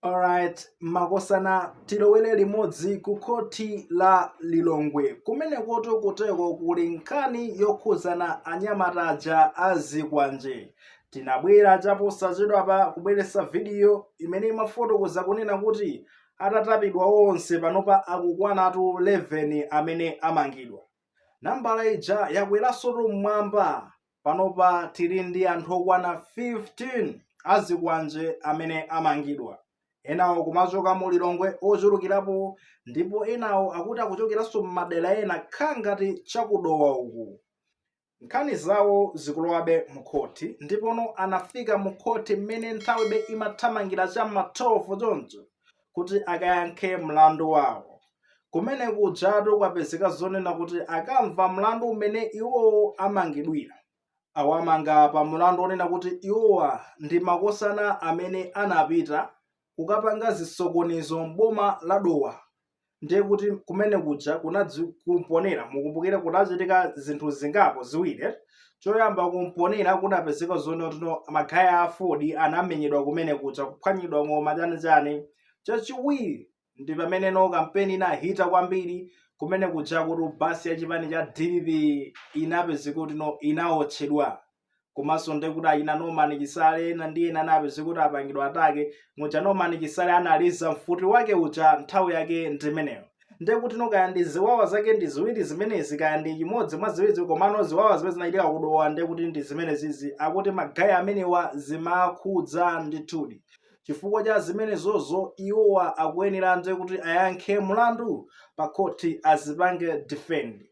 Alright, makosana tilowere limodzi ku khoti la Lilongwe kumenekotu kuteko kuli nkhani yokhudzana anyamata aja a zikwanje. Tinabwera chaposachedwapa kubweretsa vidiyo imene imafotokoza kunena kuti atatapidwa onse panopa akukwanatu 11 amene amangidwa. Nambala ija yakweransotu mmwamba Panopa tili ndi anthu okwana 15 azikwanje amene amangidwa. Enawo kumachoka mu Lilongwe ochulukirapo ndipo enawo akuti akuchokeranso m'madera ena nkhangati cha ku Dowa uku. Nkhani zawo zikulowabe mukhoti ndipono anafika mukhoti mmene nthawibe imathamangira cha m'ma 12 choncho kuti akayankhe mlandu wawo. Kumene kujatu kwapezeka zonena kuti akamva mlandu umene iwowo amangidwira, awamanga pa mlandu wonena kuti iwowa ndi makosana amene anapita kukapanga zisokonezo m'boma la Dowa ndiye kuti kumene kuja kunadzi ku Mponela mukumbukire kunachitika zinthu zingapo ziwiri eti choyamba ku Mponela kunapezeka zonena kuti no magaye a Aford anamenyedwa kumene kuja kuphwanyidwa ng'oma chanichani chachiwiri ndi pamene no kampeni inahita kwambiri kumene kuja kuti basi ya chipani cha dpp inapezeka kuti no inaotchedwa komanso ndi kuti achina norman chisale ena ndi ena anapezeka kuti apangidwa attack muja norman chisale analiza mfuti wake uja nthawi yake ndi imeneyo ndiye kuti no kaya ndi ziwawa zake ndi ziwiri zimenezi kaya ndi chimodzi mwa ziwirizi komano ziwawa zimene zinachitika ku Dowa ndiye kuti ndi zimenezizi akuti magayi amenewa zimawakhudza ndithudi chifukwa cha zimenezozo iwowa akuyenera ndiye kuti ayankhe mlandu pa khoti azipange defend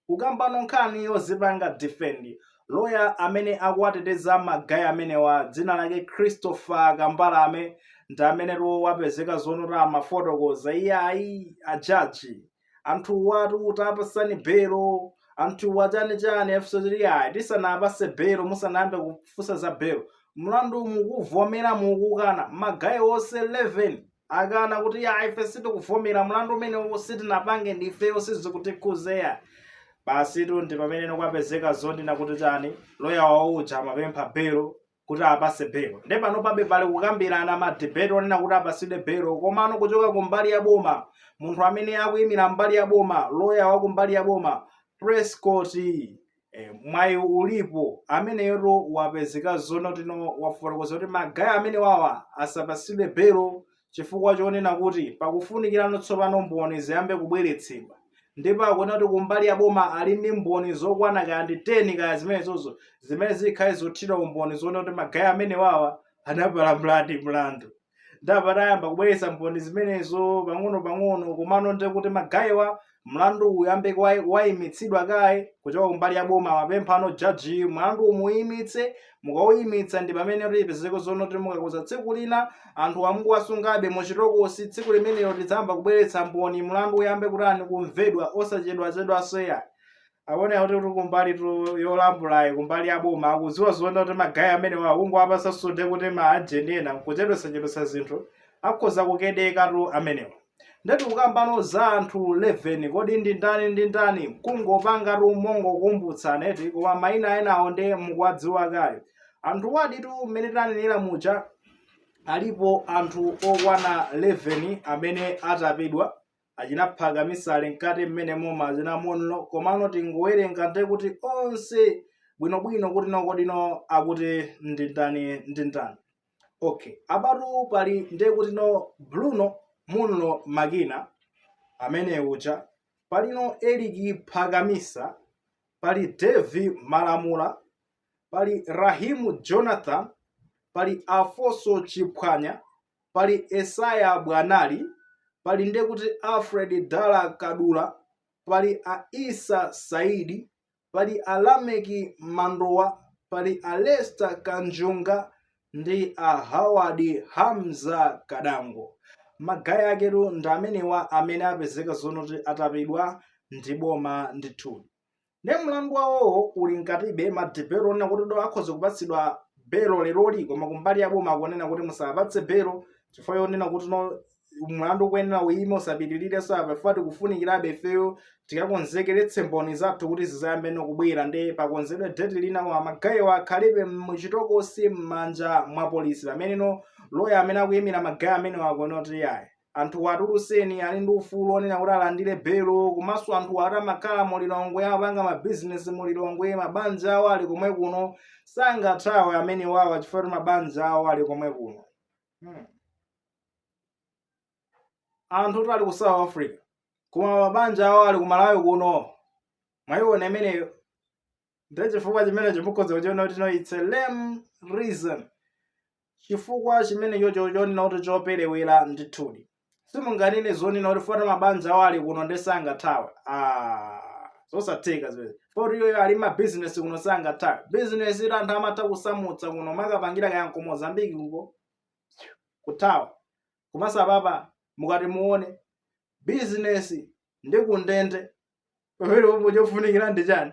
kukambano nkhani yozipanga defend loya amene akuwateteza magayi amenewa dzina lake christopher kambalame ndi amenetu wapezeka zonena kuti amafotokoza iyayi ajaji anthuwatu tapatsani belo anthuwa chanichani afunsa iyayi tisanapatse belo musanayambe kufunsa za belo mlandu mukuvomera mukukana magayi onse 11 akana kuti iyayi ife sitikuvomera mlandu umenewu sitinapange ndifeyo sizikutikhudza eya basitu ndi pamene no kwapezeka zonena kuti chani loya wawo uja amapempha belo kuti apatse belo nde panopabe pali kukambirana madibeti onena kuti apatsidwe belo komano kuchoka ku mbali ya boma munthu amene akuyimira mbali ya boma loya wa ku mbali ya boma prescott E, Mwayiulipo ameneyotu wapezeka zonena kuti no wafotokoza kuti magayi amenewawa asapatsidwe belo chifukwa chonena kuti pakufunikirano tsopano mboni ziyambe kubweretsedwa ndipo akunena kuti kumbali ya boma ali ndi mboni zokwana kaya ndi 10 kaya zimenezozo zimene zikhale zothira umboni zonena kuti magayi amenewawa anapalamuladi mlandu ndapa tayamba kubweretsa mboni zimenezo pang'ono pang'ono komano nde kuti magayiwa mlandu uyambe kwai- waimitsidwa kaye kuchoka kumbali ya boma timapempha inu jaji mlandu umuyimitse mukauyimitsa ndi pamene tipezeko zonoti mukakuza tsiku lina anthu awa mukuwasungabe muchitokosi tsiku limenelo tidzayamba kubweretsa mboni mlandu uyambe kutani kumvedwa osachedwachedwanso yayi akuona kuti kumbali yolambulayi kumbali ya boma akudziwa zoona kuti magayi amenewa akungowapasa mpata kuti ma ajenti ena nkuchedwesachedwesa zinthu akhoza kukedeka tu amenewa nde tikukambano za anthu 11 kodi ndi ndani ndi ndani kungopangatu mongokumbutsana eti koma mayina enawo ndi mukuwadziwa kale anthuwa ditu mmene tanenera muja alipo anthu okwana 11 amene atapidwa achina Phakamisa ali mkati mmenemo ma achina munlo komano tingowerenga nde kuti onse bwinobwino kuti nokodino akuti ndindani ndindani okay abatu pali nde kuti no bruno munlo Magina amene uja palino Eric Phakamisa pali Davie Malamula pali rahimu jonathan pali Alfonso Chiphwanya pali Esaya Bwanali, pali ndekuti Alfred Dala Kadula, pali a Issa Saidi, pali a Lameki Mandowa, pali a Lester Kanjunga ndi a Howard Hamza Kadango. Magayi aketu ndi amenewa amene apezeka zonoti atapidwa ndi boma ndithudi. nde mlandu wawowo uli mkatibe wa belo onena kuti do akhoza kupatsidwa belo leroli koma kumbali ya boma akunena kuti musawapatse belo chifukwa yonena kuti no mlandu ukuyenera uyime usapitirirenso apa chifukwa tikufunikirabe ifeyo tikakonzekeretse mboni zathu kuti zizayambe nokubwera nde pakonzedwe deti lina koma magayiwa akhalebe muchitokosi m'manja mwa polisi pameneno loya amene akuyimira magayi amenewo akunena kuti yayi Anthuwa atulutseni ali ndi ufulu onena kuti alandire belo komanso anthuwa ati amakhala mu Lilongwe amapanga ma business mu Lilongwe mabanja awo ali komwe kuno sangathawe amene wawa chifukwa kuti mabanja awo ali komwe kuno hmm. anthu oti ali ku South Africa koma mabanja awo ali ku Malawi kuno mwayiona imeneyo ndiye chifukwa chimenecho mukhoza kuchiona kuti no its a lame reason chifukwa chimenecho cho chonena kuti choperewera ndithudi simunganene zonena kuti foti mabanja awo ali kuno nde sangathawe ah, zosatheka zimene foti iyoyo ali mabizinesi kuno sangathawe bizinesi iti anthu amatha kusamutsa kuno kumakapangira kaya ku mozambiki kuko kuthawa komanso apapa mukati muone bizinesi ndi kundende pamene pomwe chofunikira ndi chani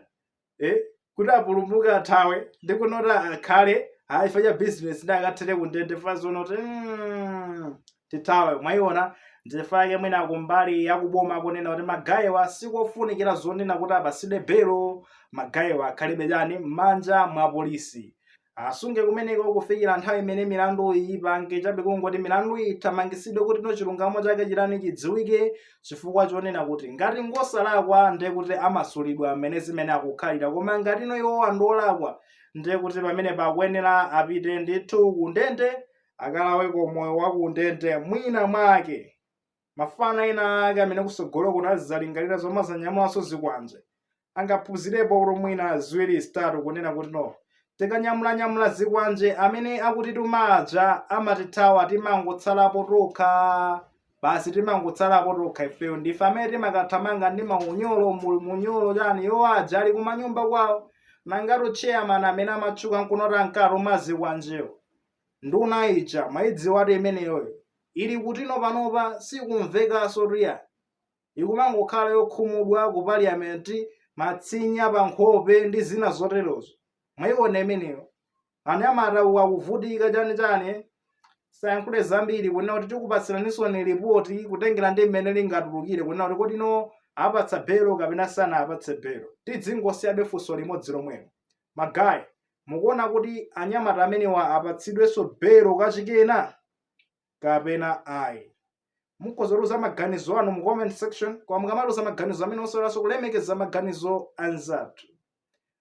eh? kuti apulumuke athawe ndi kunoti akhale ayi chifukwa cha business ndiye akathere kundende chifukwa zonoti mm, tithawe mwayiona ndi chifukwa chake mwina akumbali yakuboma akunena kuti magayewa sikofunikira zonena kuti apasidwe belo magayewa akhalebe chani m'manja mwa polisi asungidwe kumeneko kufikira nthawi imene milandu iyi ipange chani basi kungoti milandu iyi ithamangisidwe kuti no chilungamo chake chitani chidziwike chifukwa chonena kuti ngati ngosalakwa ndiye kuti amasulidwa mmene zimene akukhalira koma ngati no iwo ndi olakwa ndiye kuti pamene pakuyenera apite ndithu kundende akalaweko moyo wa kundende mwina mwake Mafana ena ake amene kusogolo kuno azizalingalira zomazanyamulanso zikwanje angaphunzirepo kuti mwina ziwiri zitatu kunena kuti no tikanyamulanyamula zikwanje amene akutituma aja amatithawa timangotsalapo tokha basi timangotsalapo tokha ifeyo ndife amene timakathamanga ndi maunyolo mu- munyolo chani yo aja ali kumanyumba kwawo nanga chairman amene amatchuka kunoti ankatuma zikwanjewo nduna ija mwaidziwatu imeneyoyo ili kuti no panopa sikumvekanso tu ayi ikumangokhala yokhumudwa ku parliament matsinya pa nkhope ndi zina zoterozo mwaiona imeneyo anyamata akuvutika chani chani tisayankhule zambiri kunena kuti tikupatsiraninso ndi lipoti kutengera ndi mmene lingatulukire kunena kuti kodi no apatsa belo kapena sanawapatse belo tizingosiyabe funso limodzi lomwelo Ma guy, mukuona kuti anyamata amenewa apatsidwenso belo kachikena kapena ayi? Mukhoza kutiuza maganizo anu mu comment section koma mukamatiuza maganizo amenewa osaiwalanso kulemekeza maganizo anzathu.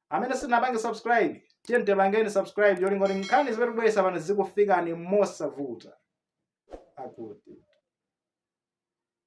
Amene simunapange subscribe, tiyeni tipangeni subscribe cholinga kuti nkhani zimene tikubweretsa pano zikufikeni mosavuta. Akuti.